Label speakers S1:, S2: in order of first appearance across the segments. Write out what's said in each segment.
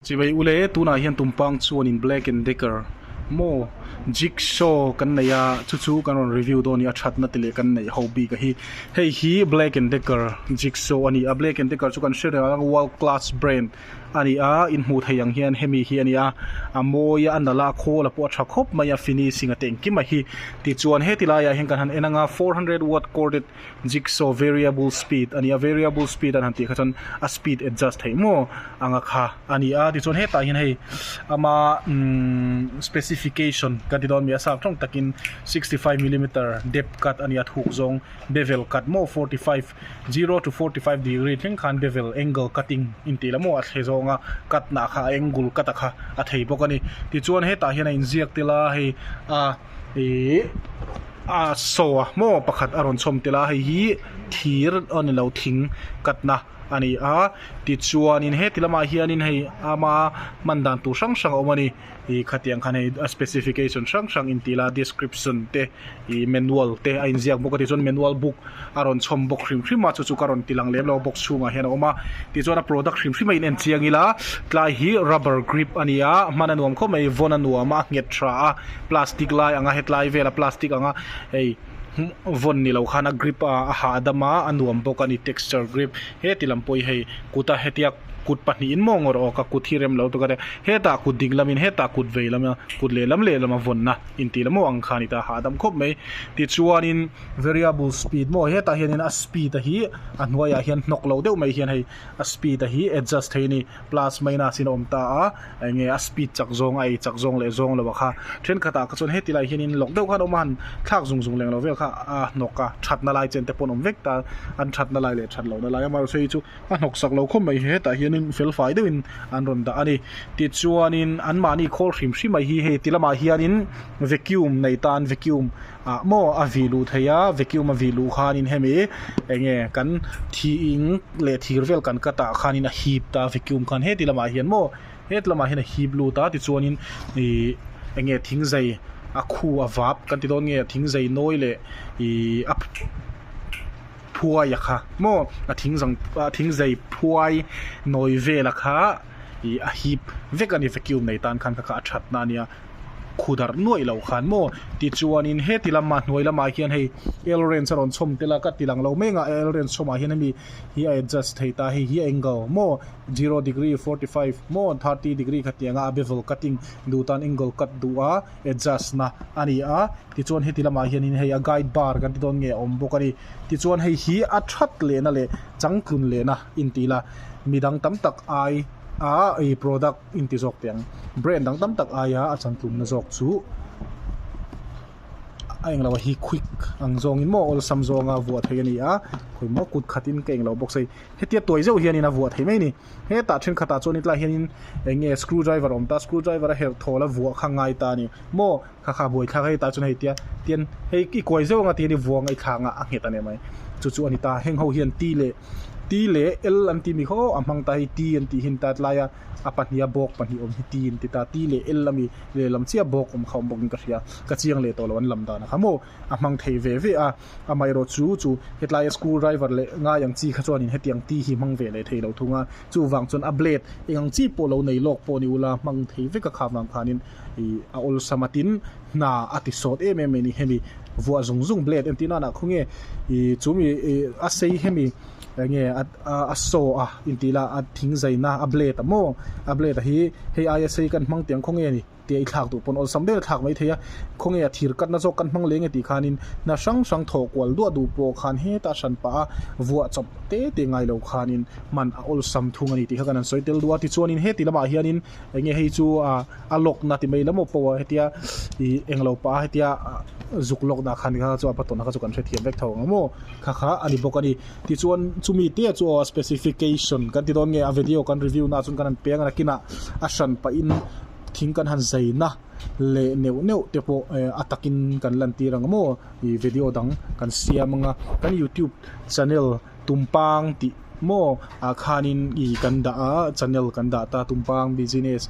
S1: Chivei u le, tunah hian tumpang chuan in Black and Decker maw, Jigsaw kan nei a, chu chu kan rawn review dawn a ni a, thatna te leh kan neih ho bik a hi. Hei hi Black and Decker Jigsaw a ni a, Black and Decker chu kan hre reng ang a, world class brand a ni a, in hmuh theih ang hian hemi hi a ni a, a mawi a, a nalh a, a khawl a pawh a tha khawp mai a, finishing a tengkim a hi. Tichuan heti laiah hian kan han en anga four hundred watt corded. Jigsaw variable speed a ni a, variable speed a han tih kha chuan a speed adjust theih maw ang a kha a ni a, tichuan hetah hian hei ama specification kan ti dawn a nih a, sâk ṭawng takin sixty five millimetre depth cut a ni a, thûk zawng bevel cut maw forty five, zero to forty five degree thleng khân bevel angle cutting intih loh maw a thei zawng a, cut-na kha a angle cut a kha a thei bawk a ni. Tichuan hetah hian a inziak tel a, hei a. ihh ahh saw a hmaw pakhat a rawn chawm telh a hei hi thir a ni lo thing katna a ni a tichuanin heti lamah hianin hei ama hman dan tur hrang hrang a awm a ni ih khatiang khan hei a specification hrang hrang intih ila description te ih manual te a inziak bawk a tichuan manual book -- a rawn chhawm bawk hrim hrim a, chu chu ka rawn ti lang lem lo a, box chhungah hian a awm a, tichuan a product hrim hrim a in en chiang ila, tlai hi rubber grip a ni a, a hman a nuam khawp mai, vawn a nuam a, a nghet tha a, plastic lai ang a, hetlai vela plastic ang a, hei vawn ni lo khan a grip a a hah a dam a, a nuam bawk a ni, texture grip, heti lam pawh hi hei kuta hetia kut pahnihin maw ngawrh awk a, kut hi rem lo tak a nia, hetah kut ding lamin hetah kut vei lama, kut lehlam lehlam a vawnna, intih lam ho ang khan ita a hah a dam khawp mai, tichuanin. Variable speed maw hetah hianin a speed a hi a hnuaiah hian hnawk loh deuh mai hian hei a speed a hi adjust thei a ni plus minus in a awm ta a eng nge a speed chak zawng a ei chak zawng leh zawng lo a kha thenkhatah kha chuan heti lai hianin lawk deuh khan a awm a han thlak zung zung leng lo vel kha a hnawk a thatna lai chen te pawh an awm vek ta an thatna lai leh that lohna lai amahersei chu a hnawk sak lo khawp mai hetah hianin fel fai deuhin an rawn dah a ni tichuanin anmahni khawl hrim hrim mai hi hei ti lamah hianin vacuum nei tan vacuum Ah maw a vih luh thei a, vacuum a vih luh khanin hemi eng nge kan thi ing leh thir vel kan cut ah khanin a hip ta a vacuum khan heti lamah hian maw heti lamah hian a hip lut a tichuanin ih eng nge thing zai a khu a vap kan ti dawn nge thing zai nawi leh ih a phuai a kha maw a thing zang a thing zai phuai nawi vel a kha ih a hip vek a ni vacuum nei tan khan ka kha a that na a nia. khu darh nuaih loh khan maw tichuanin heti lama hnuai lamah hian hei elrens a rawn chhawm tel a ka tilang lo meng a elrens chhawmah hian hemi hi a adjust thei ta hei hi angle maw zero degree forty five maw thirty degree kha tih anga a bevel cutting duh tan angle cut duh a adjust na a ni a tichuan heti lamah hianin hei a guide bar kan ti dawn nge a awm bawk a ni tichuan hei hi a that lehna leh changtlun lehna intih ila midang tam tak ai a product inti zawk teh ang. Brand dang tam tak aia a chantlunna zawk chu a eng lo a hi quick ang zawngin maw awlsam zawnga vuah theih a ni a khawih maw kut khatin ka eng lo bawk sai hetia tuai zeuh hianin a vuah theih mai a ni hetah thenkhat ah chuan tlaiah hianin enge screw driver awm ta screw driver a herh thawl a vuah kha ngai ta a ni maw kha kha buai thlak hei tah chuan hei tia tian hei i kuai zeuh ang a tian i vuanga i thlanga a nghet ania mai chu chu a ni ta heng ho hian ti leh ti leh el an timi ho a hmang ta hei ti an tih hi a ni ta tlai a a pahnih a bawk pahnih awm hi ti an ti ta ti leh el ami lehlam chiah bawk awm kha awm bawk in ka hria ka chiang leh tawh lo an lam dan a kha maw a hmang thei ve ve a amaherawh chu chu hetlaia school driver leh ngai ang chi kha chuanin hetiang ti hi hmang ve leh thei lo thung a chuvang chuan a blade engang chi pawh lo nei lawk pawh ni ula hmang thei vek a kha vang khanin ih a awlsam a tin hna a ti sawt em em mai ni hemi vuah zung zung blade en tih nan ah khawnge ih chu mi ih a sei hemi eng nge a a saw a intih la a thing zai na a blade a maw a blade a hi hei aia sei kan hmang tiang khawnge ni tih i thlak duh pawn awlsam ber a thlak mai thei a khawnge a thir kat na zawk kan hmang leh nge tih khan in hna hrang hrang thawh kual duah duh pawh khan heta a hran pah a vuah chawp te te ngai lo khan in hman a awlsam thung a ni tih kha kan han sawi tel duah a tichuan in heti lam ah hian in eng nge hei chu ah a lock na ti mai lam maw pawh ah hetia ih eng lo pah a hetia ah zuk lock dah khan kha chu a va tawn a kha chu kan hrethiam vek tho ang maw kha kha a ni bawk a ni tichuan chumi te chu aw specification kan ti dawn nge a video kan review na ah chuan kan han pe ang a nakin ah a hran pah in thing kan han zai na leh neuh neuh te pawh eh a takin kan lan tir ang maw ih video dang kan siam anga kan youtube channel tumpang tih-- Maw ah khan in i kan dah a channel kan dah ta tumpang business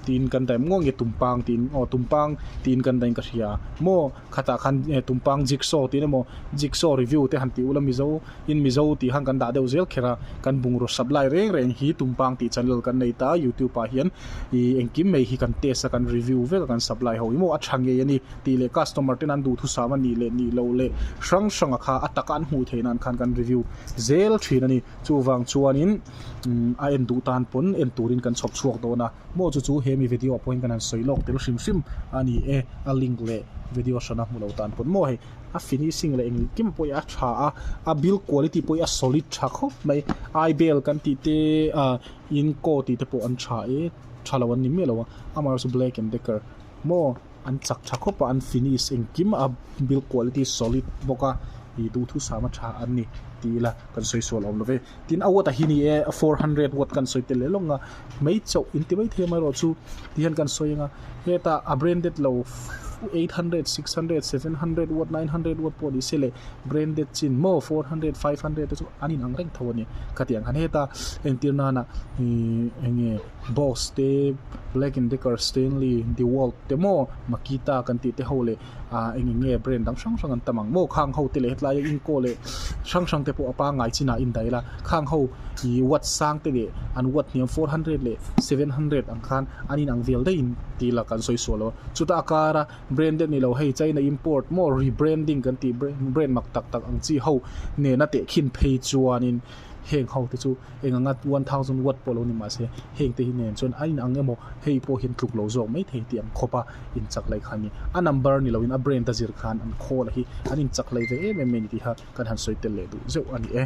S1: tiin kan daih maw nge tumpang tiin aw tumpang tiin kan daih ka hria maw khatah khan tumpang jigsaw tiin emaw jigsaw review te han tih ula mizo in mizo tih khan kan dah deuh zel khera kan bungraw sap lai reng reng hi tumpang tih channel kan nei ta youtube ah hian i engkim mai hi kan test a kan review vek a kan sap lai ho emaw a tha ngei a ni. tih leh customer ten an duhthusam a nih leh nih loh leh hrang hranga kha a taka an hmuh theih nan khan kan review zel thin a ni. Chuvang chuanin a en duh tan pawn en turin kan chhawp chhuak dawn a. Maw chu chu hemi video ah pawhin kan han sawi lawk tel hrim hrim a ni e, a link leh video hrana hmu lo tan pawn maw hei. A finishing leh engli kim pawhin a tha a, a build quality pawhin a solid tha khawp mai. Ibel kan tih te a Inco tih te pawh an tha e, tha lo an ni miah lo a, amaherawhchu Black and Decker maw. An chak tha khawp a, an finish engkim a, build quality solid bawk a, ih duhthusam a tha an ni tih ila kan sawi sual awm love. Tin a watt a hi ni e, four hundred watt kan sawi tel leh lawng a, mai chauh inti maithei amaherawh chu ti hian kan sawi anga heta a branded lo eight hundred, six hundred, seven hundred watt, nine hundred watt pawh nise leh branded chin maw four hundred, five hundred te chu an inang reng tho a ni. Khatiang han heta entir nana ih enge. Boss te, Black and Decker, Stanley, Dewalt te maw, Makita kan tih te ho leh aah eng eng nge brand dang hrang hrang an tam ang. Maw khang ho te leh hetlai a Inco leh hrang hrang te pawh a pangngai chinah a indaih la. Khang ho ih watt sang te leh an watt hniam four hundred leh seven hundred ang khan an in ang vel daihin tih ila kan sawi sual lo. Chuta a kar a branded ni lo hei China import maw rebranding kan tih brand mak tak tak ang chi ho nena teh khin phei chuan in heng ho te chu eng anga one thousand watt pawh lo ni mah se heng te hi nen chuan a in ang emaw hei pawh hian tluk lo zawk mai thei tih an khawp a in chak laih kha ni a number ni lo in a brand a zir khan an call a hi an in chak laih ve em em mai ni tih kha kan han sawi tel leh duh zeuh a ni e.